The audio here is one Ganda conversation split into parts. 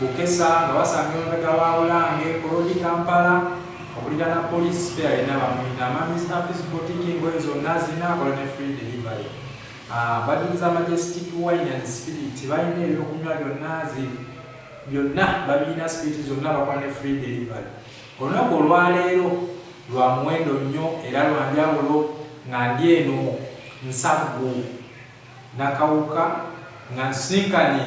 Bukesa nga basanga emabega wa Bulange ku Road Kampala okuliraana police spare yena bamuyina amanyi zina fis botiki engoye zonna zirina akola ne free delivery ah, bajuliza majestic wine and spirit balina ebyokunywa byonna zi byonna babirina spirit zonna bakola ne free delivery olunaku olwaleero lwa muwendo nnyo era lwa njawulo nga ndi eno nsaggu nakawuka nga nsinkanye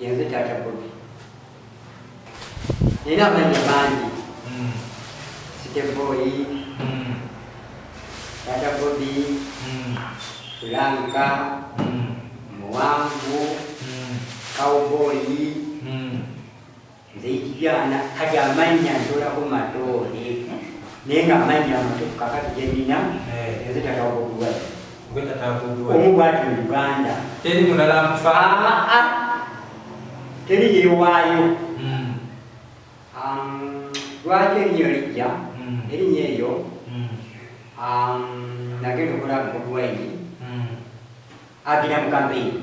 Yenze taata Bobi nina amannya mangi hmm. siteboyi hmm. taata Bobi hmm. lanka muwanvu kawboyi nze ekibyana kati amannya ntolako matoole naye nga amannya amatufu kakati genina eh. nze tatawakuduwa omu bwati mu uganda teri mulala nfaa teri yewaayo hmm. um, lwaki erinnya lijja hmm. erinnya eryo hmm. um, nagenda okulaba mukuduwaini agenda mu kampeyini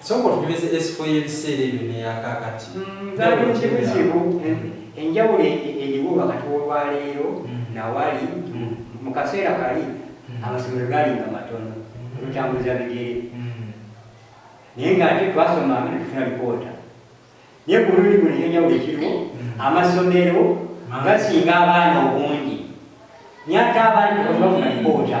Sooka otunyumize esifo y'ebiseera ebyo n'eya kaakati. Nzaalira mu kibuga kimu. Enjawulo eriwo wakati w'olwaleero na wali, mu kaseera kali amasomero gaalinga matono ne tutambuza bigere naye ng'ate twasomanga ne tufuna lipoota. Naye ku mulundi guno ekyenjawulo ekiriwo, amasomero gasinga abaana obungi naye ate abaana tebafuna lipoota.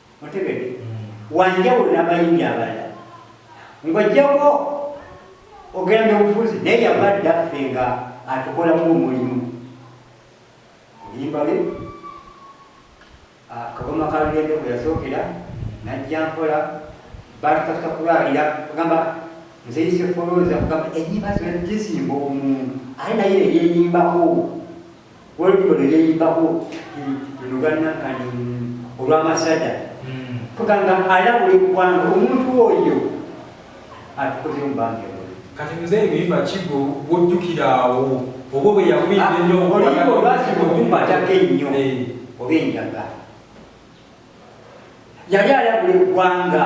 otegedde wanjawulo n'abayimbi abalala ng'ojjako ogenda obufuzi naye yava dda ffe nga atukolamu omulimu oyimbale ah, kaboma kalugendo bwe yasookera najja mpola batukatuka kulwalira kugamba nzeyise folooza kugamba enyimba zona tezimba omuntu aye naye eyeyimbako olulyo lwe yeyimbako luganakani olwamasada hmm. kugamba alabula eggwanga omuntu oyo atukozemu bange kati nze ebiyimba kigo wojjukira awo oba bwe yakuyimba ah, ennyo oluyimba olwasiba okukwatako ennyo eh. oba enjaga yali alabula eggwanga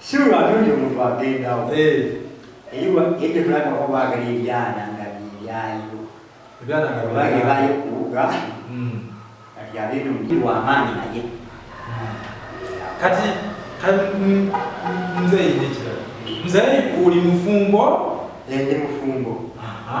Sirwa atunze omuntu agendawo. Eyiwa yedde kulaba ko baagala ebyana nga byebyayo. Ebyana nga byayo. Baayo kuwuga. Hmm. Kati abeera omuti wa maanyi naye. Hmm. Kati nze yinda ekirala. Nze oli mufumbo. Endi mufumbo. Aha.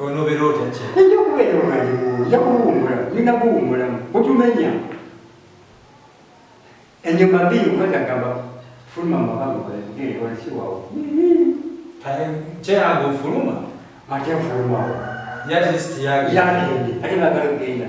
onobeera otya kye ejja okubeera omwalimu ojja kuwummula olina kuwummulamu otumenya enyuma mbi okwetagamba fuluma mabamugolesiwawo kyeyange ofuluma ate ofulumawo yagende ate bagala okugenda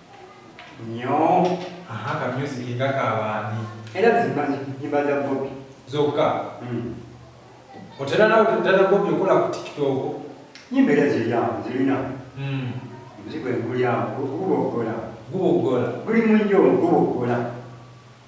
Nyoo. Aha ka music nga ka baani? Era zimba nyimba za Bobi. Zokka? Mm. Otera nawe kudala Bobi okola ku TikTok? Nyimba era ziryamu zirina. Mm. Muzigwe ngulyamu gubogola. Gubogola. Guli mu nyo gubogola.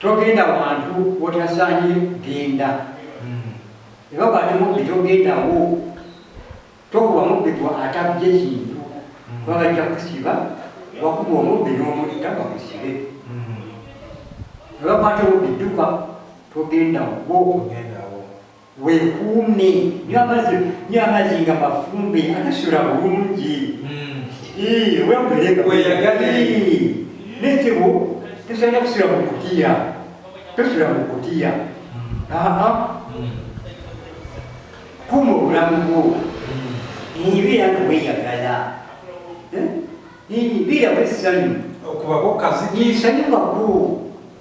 togenda wantu wotasaanye genda ebakwate mubbi togendawo tokuba mubbi gwa atabye kintu kuba bajja kusiba wakuba omubbi n'omutta bakusibe ebakwate mubbi dduka togenda wo Weekuume nywa amazzi nywa amazzi nga mafumbe agasula bulungi hmm. weyagalire n'ekibu tosaana kusula mu kutiya tosula mu kutiya kuuma obulamu bwo ebeera nga weyagala ebeera wesanyu okubako kazi isanyukako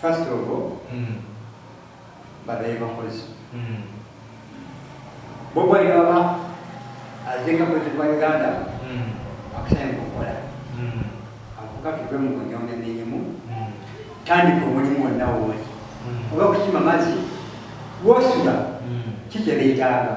First of all, mm. badaye bakozi mm. bobwali baba azenga kwezi kwa uganda mm. akusanye kukola mm. akuka tuve mu kunyomya mirimu mm. tandika omulimu wonna wooli mm. oba kusima mazi wosula mm. kikyebeetaaga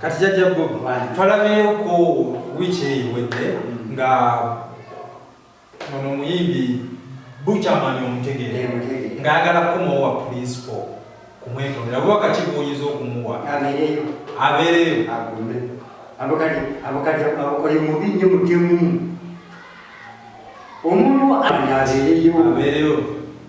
kati jajja twalabyeko wiiki eyo wedde nga ono muyimbi buchamani omutegere ngaagala kukomawo wa pulinsipo kumwetondera oba wakati gwoyinza okumuwa abeereyo abakali mubi nyo mutemu omuntu abeereyo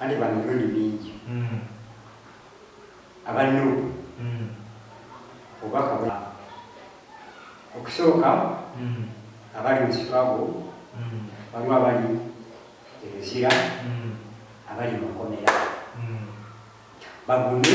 Anti bano emirundi mingi aba Nup obubaka bwa okusooka abali mu Chicago waliwo abali e Luzira abali mu makomera bagume.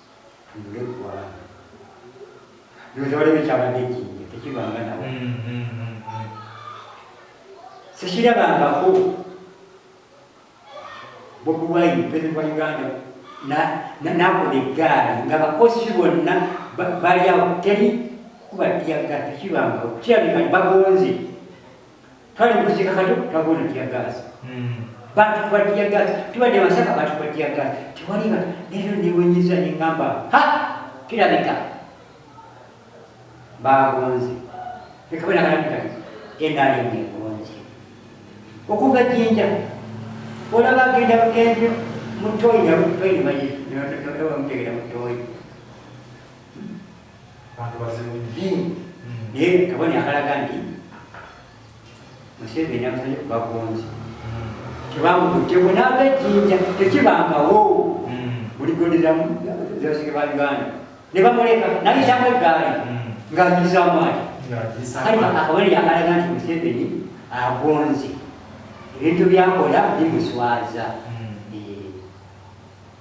ng'eggwanga bino tewali bikyabadde ejjinja tekibanga nawo sikirabangako bobi wine president wa uganda nakola eggaali nga bakosi bonna bali awo teri kuba tiyaga tekibangako kirabika bagonze kale mukuzika kati twagona tiyagaasi hmm. batukuba tiyagaasi tubadde masaka batukuba tiyagaasi tewaliba nero niwenyiza nengamba ha kirabika bagonze ekabenakalabika enali ngengonze okuva jinja olaba agenda bugenzi mutoyi nabutoyi mayimutegera mutoyi Bantu bazibu nnyo. Naye kabonero akalaga nti Museveni amusanye ku bagonzi. Tebamukutte bunaaba ejjinja tekibangawo. Buli gonderamu zebasige ba Uganda. Ne bamuleka nayitamu eggaali ng'agizaamu ati. Kale akabonero akalaga nti Museveni agonze. Ebintu byakola bimuswaza.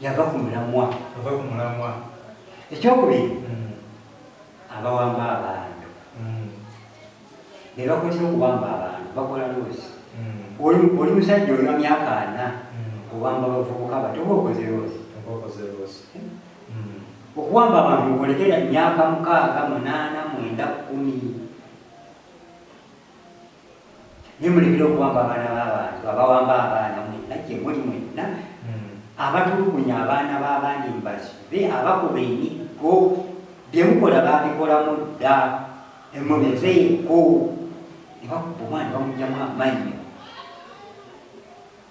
yava ku mulamwa ava ku mulamwa ekyokubiri mm. abawamba abantu mm. ne bakozesa okuwamba abantu bakola loosi mm. oli musajja olina myaka ana owamba bavubuka bati oba okoze loosi okuwamba abantu okolekera myaka mukaaga munaana mwenda kumi nemulekera okuwamba abaana b'abantu abawamba abaana mwenna gye muli mwenna hmm. abatulugunya abaana b'abandi mubasibe abakuba emiggo bye mukola babikolamu dda emubeveeko ne bakuba omwana bamugyamu amannyo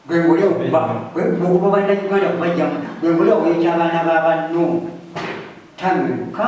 gwengole okuba okuba bannayuganda kubajjamu gwengole okuyokya abaana b'abanno tamiruka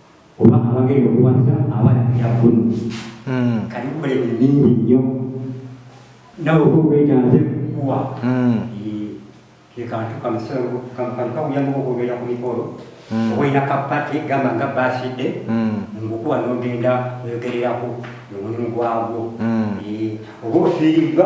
oba abagenda okuwasa abalabira ggulu hmm. kali kukola ebintu bingi nnyo nawe oba obwetaaze kukuwa hmm. kekantu kamukamukamuyamu okwogera ku mikolo hmm. oba olina kapati gamba nga basidde ngukuwa nogenda oyogererako omulimu gwagwo oba ofiiriddwa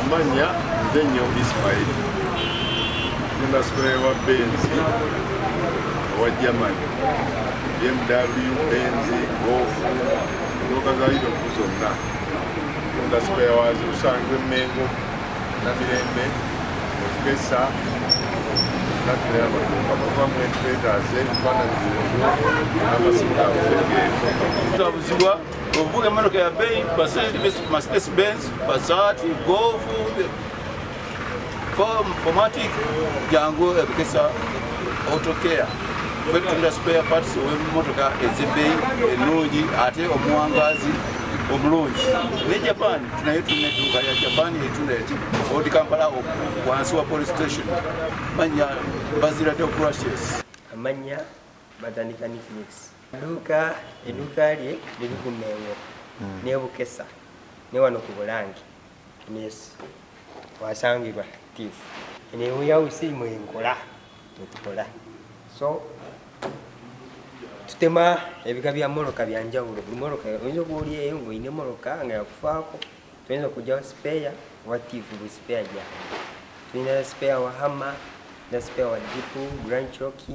Amanya nze nyo Ismail nina supulayo wa benzi owa Germany BMW benzi gofu motoka za Europe zonna tunda supulayo wazo usanga emengo na mirembe okukesa natulera maduka kuba mwetwetaaze ebifaananyi byebyo n'amasimu gaffe g'ezo Ovuga emmotoka ya beeyi Mercedes Benz, Passat, Golf, Formatic jangu ebikesa autocare kwetunda spare parts ow'emmotoka ez'ebbeeyi ennungi ate omuwangaazi omulungi ne japan tunaye tulina edduuka ya japan etunda eti old kampala wansi wa police station manya bazirade okurashes amanya batandika nicknicks duuka eduuka lye liri ku mengo hmm. nebukesa ne wano ku bulange yes wasangibwa tif eneweyawusi mwenkola mwetukola so tutema ebika bya moloka byanjawulo buli moloka oyinza okuba oli eyo ngaolina emoloka nga yakufaako tuyinza okugyawo sipeya oba tif buli sipeya gyawe tulina sipeya wa hama na sipeya wa jipu granchoki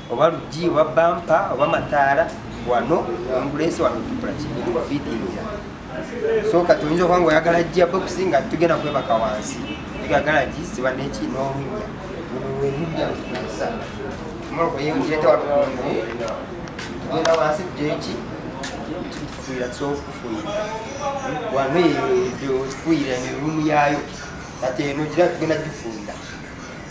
oba luggi oba bampa oba mataala wano ambulance wano tukula kibifitinga so kati oyinza okuba nga oyagala jja bokisi nga tugenda kwebaka wansi egagala gi siba neki n'olunya olulweludda lukusa omoloko yemujete walukungu tugenda wansi jeki tufuira kyokufuyira wano eyo efuyira emirumu yayo kati eno gira tugenda gifuira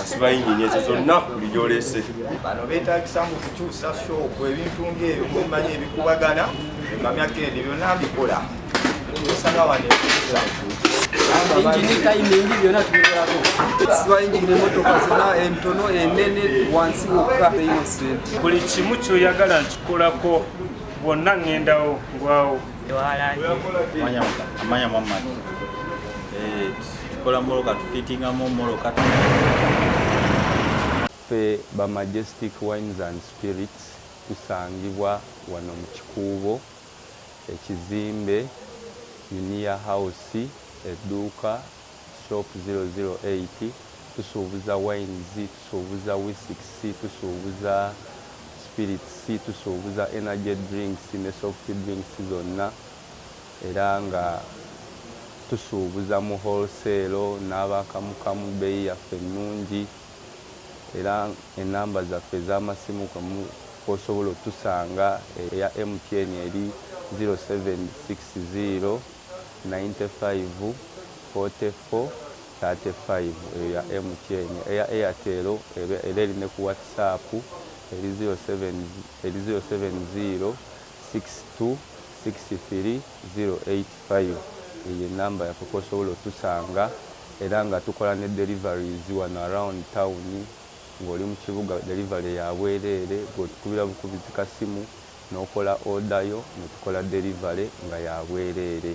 asiba yingini ezo zonna buli gyolese bano betagisa mu kukyusa shoopu ebintu ngaebyo kumanyi ebikubagana ekamya kendi byonna mbikola osanga wano ekusa buli kimu kyoyagala nkikolako bwonna ŋŋendawo ngwawo amanya muhammad eh, tukola moloka tufitingamu moloka ffe ba majestic wines and spirits tusangibwa wano mu kikuubo ekizimbe uniya house edduuka Shop 008 tusuubuza wines, tusuubuza whisks, tusuubuza spirits, tusuubuza energy drinks ne soft drinks zonna era nga tusuubuza mu wholesale n'abaakamukamu. Bbeeyi yaffe nnungi era ennamba zaffe ez'amasimu kw'osobola otusanga eya MTN eri 0760. Ninety five, forty four, thirty five eyo ya MTN, eya Airtel eba era eri ne ku WhatsApp eri zero seven eri zero seven zero six two six three zero eight five eyo ye number yaffe kwosobola otusanga era nga tukola ne deliveries wano around town ng'oli mu kibuga delivery ya bwereere gwe otukubira bukubizi kasimu n'okola order yo ne tukola delivery nga ya bwereere.